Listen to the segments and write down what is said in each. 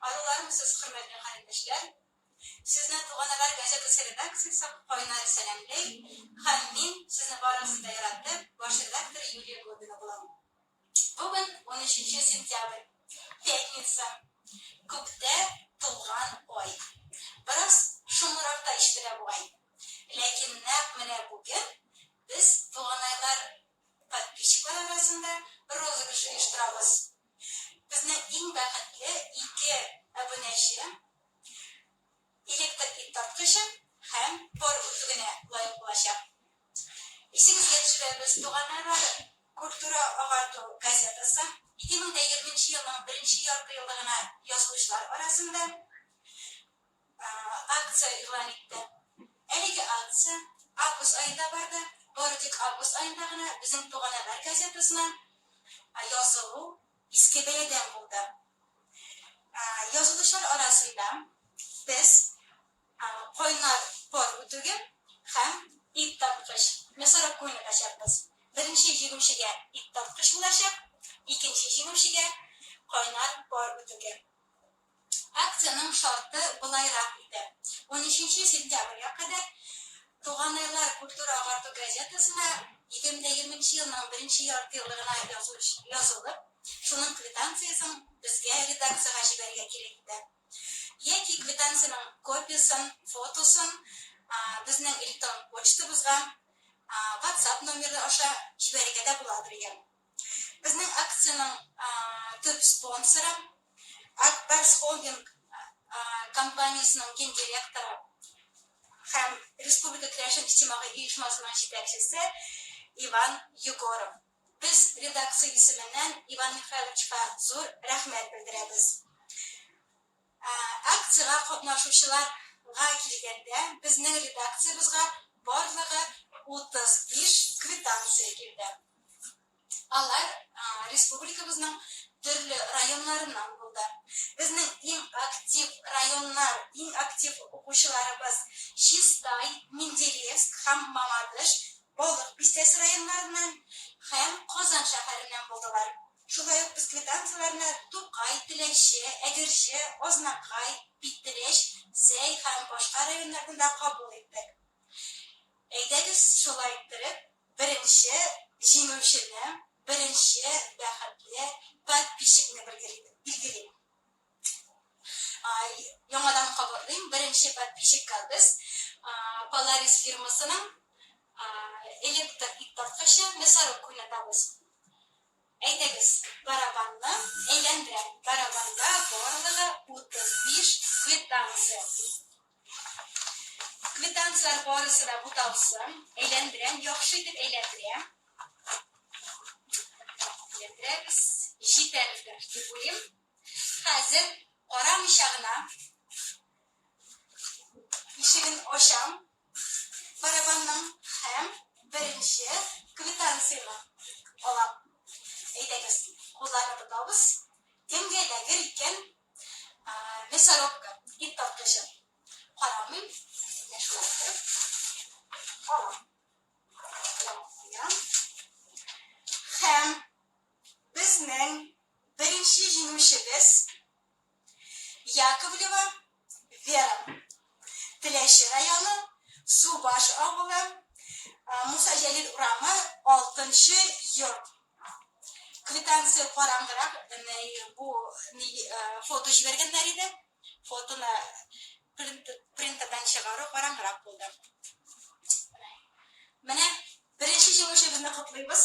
Алулармсыз, хөрмәтле календәшләр! Сезне Туган Әгәр газетасы редакциясе кайнар сәламлей һәм мин сезне барыгызны да яратып, баш редакторы Юлия Глобина булам. Бүген унөченче сентябрь, пятница, күктә тулган ай. Бераз шомлырак та ишетелә бугай. Ләкин нәкъ менә бүген без Туганайлар подписчиклары арасында розыгрыш оештырабыз. Безне иң бәхетле ике әбүнәчем, электр ит тарткычым һәм пар үтүгенә лаек булачак. Исегезгә төшерәбез, туганнарлары, Культура агарту газетасы, ике мең дә егерменче елның беренче ярты еллыгына язылучылар арасында. акция игълан итте. Әлеге акция август аенда барды, бары тик август аенда гына Безнең туган әмәл газетасына язылу Иске бәядән булды. Язылучылар арасында без кайнар пар үтүге һәм ит тарткыч, мясоруб күңеле ачарбыз. Беренче җиңүчегә ит тарткыч булачак, икенче җиңүчегә кайнар пар үтүге. Акциянең шарты болайрак иде, унөченче сентябрьгә кадәр Туганайлар культура-агарту газетасына егерме дә егерменче елның беренче яртыеллыгына язылыш язылып, шуның квитанциясен безгә, редакциягә җибәрергә кирәк иде. Яки квитанциянең копиясен, фотосын безнең электрон почтабызга, ватсап номеры аша җибәрергә дә буладыр икән. Безнең акциянең төп спонсоры, Акбарс холдинг компаниясенең гендиректоры һәм Республика керәшен иҗтимагый оешмасының җитәкчесе Иван Егоров. Без редакция исеменнән Иван Михайловичка зур рәхмәт белдерәбез. Ә акциягә катнашучылар га килгәндә, безнең редакциябезгә барлыгы 35 квитанция килде. Алар республикабызның төрле районнарыннан булды. Безнең иң актив районнар, иң актив укучыларыбыз Чистай, Менделеевск һәм Мамадыш, Балык Бистәсе районнарыннан һәм Казан шәһәреннән булдылар. Шулай ук без квитанцияләрне Тукай, Теләче, Әгерҗе, Азнакай, Питрәч, Зәй һәм башка районнардан да кабул иттек. Әйдәгез шулай иттереп, беренче җиңүчене, беренче бәхетле подписчикны билгелим. Яңадан кабатлыйм, беренче подписчикка без Polaris фирмасының электр иттарткычы Мясорубка уйнатабыз. Әйдәгез, барабанны әйләндерәм. Барабанда барлыгы 35 квитанция. Квитанцияләр барысы да буталсын. Әйләндерәм, яхшы итеп әйләндерәм. Әйләндерәбез. Җитәрлек дип уйлыйм. Хәзер карамыйча гына ишеген ачам, барабанның һәм беренче квитанцияне алам. Әйдәгез, кулларны тотабыз. Кемгә эләгер икән мясорубка, ит тарткычы? Карамыйм, менә шулай итеп алам. Куям. Һәм Безнең беренче җиңүчебез, Яковлева Вера. Теләче районы, Субаш авылы, Муса Җәлил урамы, алтынчы йорт. Квитанция караңгырак, бу фото җибәргәннәр иде. Фотоны принтердан чыгару караңгырак булды. Менә беренче җиңүчебезне котлыйбыз.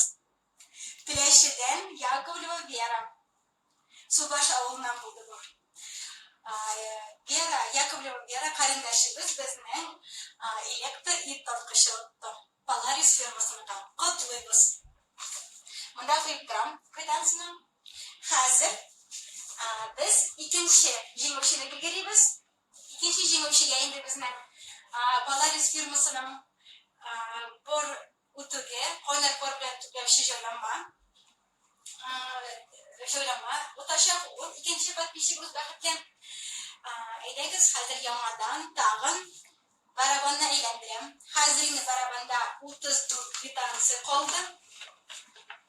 Теләчедән Яковлева Вера. Субаш авылыннан булды бу. Вера, Яковлева Вера карендәшебез безнең электр ит тарткычы отты. Polaris фирмасыныкы. Котлыйбыз. Монда куеп торам квитанцияне. Хәзер без икенче җиңүченеке керибез. Икенче җиңүчегә инде безнең Polaris фирмасының бор Үтүгә, кайнар пар белән төпләүче җайланма җайланма утачак ул икенче подписчигыбыз Бәхеткә. Әйдәгез, хәзер яңадан тагын барабанны әйләндерәм. Хәзер инде барабанда 34 квитанция калды.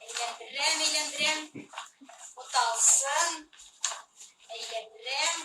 Әйләндерәм, әйләндерәм. Уталсын. Әйләндерәм.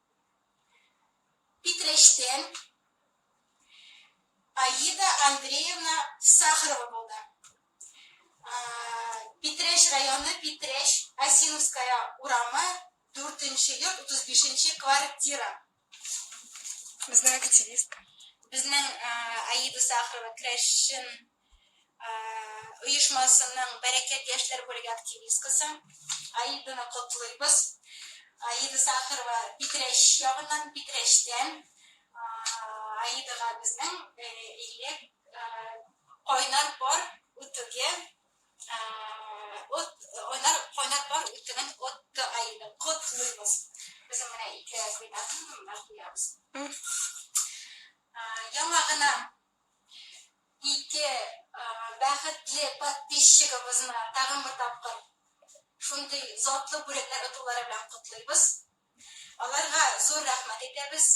Питрәчтән Аида Андреевна Сахарова булды. Питрәч районы, Питрәч, Осиновская урамы, дүртенче йорт, утыз бишенче квартира. Безнең активистка. Безнең Аида Сахарова, крәшчен оешмасының Бәрәкәт яшьләр бүлеге активисткасы Аиданы котлыйбыз. Аида Сахарова Питрәч ягыннан, Питрәчтән. Аидага безнең элек кайнар пар үтүге, от, кайнар, кайнар пар үтүген отты Аида, котлыйбыз. Безнең менә ике квитанцияне монда куябыз. Яңа гына Ике бәхетле подписчигыбызны тагын бер тапкыр шундый затлы бүләкләр отулары белән котлыйбыз. Аларга зур рәхмәт әйтәбез.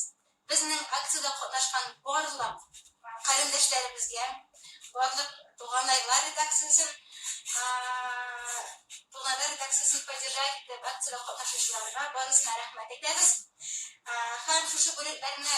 Безнең акциядә катнашкан барлык карендәшләребезгә, барлык Туганайлар редакциясен Туганайлар редакциясен поддержать итеп акциядә катнашучыларга барысына рәхмәт әйтәбез. Һәм шушы бүләкләрне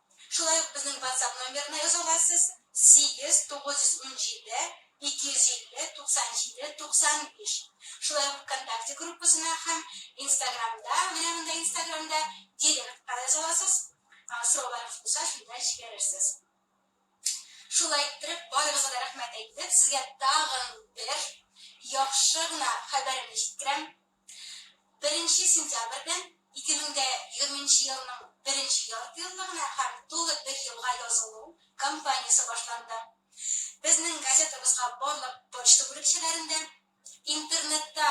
Шулай ук безнең ватсап номерына яза аласыз, 8-917-250-97-95. Шулай ук вконтакте группасына һәм инстаграмда, менә монда инстаграмда, директка яза аласыз, сорауларыгыз булса, шунда җибәрерсез. Шулай иттереп, барыгызга да рәхмәт әйтеп, сезгә тагын бер яхшы гына хәбәремне җиткерәм, Беренче сентябрьдән 2020 елның беренче яртыеллыгына һәм тулы бер елга язылу кампаниясе башланды. Безнең газетабызга барлык почта бүлекчәләрендә, интернетта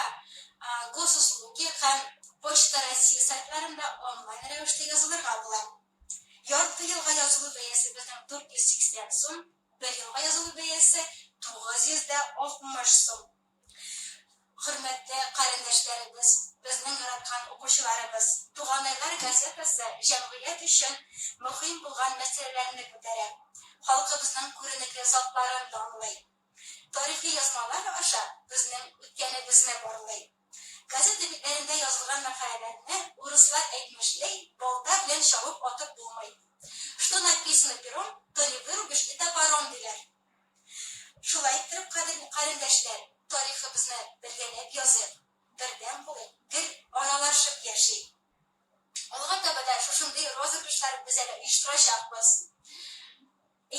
Госуслуги һәм Почта России сайтларында онлайн рәвештә язылырга була. Ярты елга язылу бәясе безнең 480 сум, бер елга язылу бәясе 960 сум. Хөрмәтле карендәшләребез, безнең яраткан укучыларыбыз Туганайлар газетасы җәмгыять өчен мөһим булган мәсьәләләрне күтәрә, халкыбызның күренекле затларын данлый, тарихи язмалар аша безнең үткәнебезне барлый. Газета битләрендә язылган мәкаләләрне, урыслар әйтмешли, балта белән чабып атып булмый. Что написано пером, то не вырубишь и топором, диләр. Шулай иттереп, кадерле карендәшләр, тарихыбызны бергәләп языйк, бердәм булыйк, гел аралашып яшик. Алга таба да шушындый розыгрышлар без әле оештырачакбыз.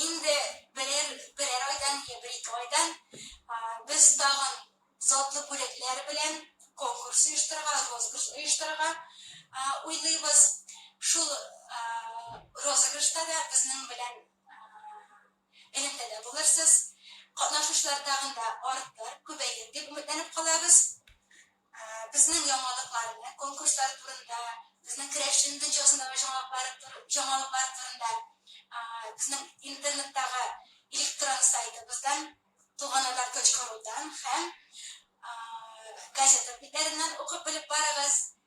Инде берәр, берәр айдан йә бер-ике айдан без тагын затлы бүләкләр белән конкурс оештырырга, розыгрыш оештырырга уйлыйбыз. Шул розыгрышта да безнең белән элемтәдә булырсыз, катнашучылар тагын да артыр, күбәер дип өметләнеп калабыз. Безнең яңалыкларны, конкурслар турында, безнең керәшен видеосындагы җаңалыклар җаңалыклар турында безнең интернеттагы электрон сайтыбыздан, Туганнар точка рудан һәм газета битләреннән укып белеп барыгыз.